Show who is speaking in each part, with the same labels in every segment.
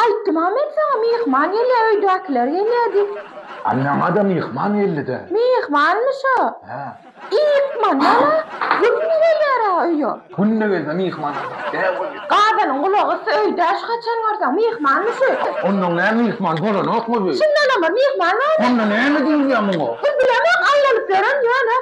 Speaker 1: Aýtdym-a
Speaker 2: men saňa, myhman gelýär, öýdäkiler gelýär diýip. A maňa-da
Speaker 1: myhman geldi-dä. Myhmanmyş-a?
Speaker 2: Hä.
Speaker 1: Ykmandan-a
Speaker 2: günde gelýär-ä öýe. Günde gelse myhman
Speaker 1: aljak däl ol. Gazanyň
Speaker 2: gulagy ysy öýdä şu haçan görseň, myhmanmyş öý. Onda nä myhman
Speaker 1: bolanokmy bu? Şundanam bir myhman
Speaker 2: barmy? Onda näme diýilýär
Speaker 1: muňa? Biz bilemok, aýlalyp
Speaker 2: ýören ýöne.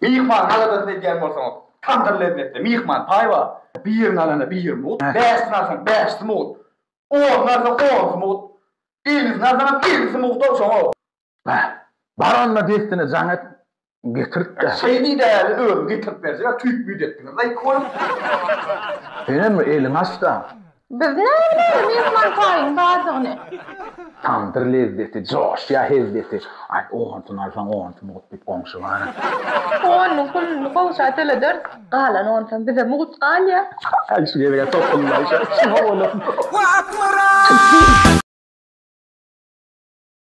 Speaker 2: Myhman aladasyny
Speaker 3: edýän bolsaňyz, tamdyr lezzetli, myhman paý bar. Birini alanda bir mut, bäşisini alsaň bäşisi mut, onyny alsaň onusy mut, ellisini alsaňam ellisi mut-ow şoňa. Bä, bar
Speaker 1: onda dessine jaň et, getirt-de. Şeý diý däli, özüň
Speaker 3: getirip berjek-ä, tüýt-müýt etdiňiz-laý iki bolup.
Speaker 1: Senem bir eliňi aç-da, Biz näbileýli
Speaker 2: myhman taýyň bardygyny. Tamdyr
Speaker 1: lezzeti, joşýa hezzeti. Aý, onsyny alsaň, onsy mugt diýip goňşy bar-a. Onynyň
Speaker 2: puluny goňşa töleders. Galan onsam bize mugt galýa.
Speaker 3: Aý, şu
Speaker 2: gezeg-ä
Speaker 3: topuldaý, şa içim
Speaker 2: howalansyn.
Speaker 3: Wah, Akmyrat!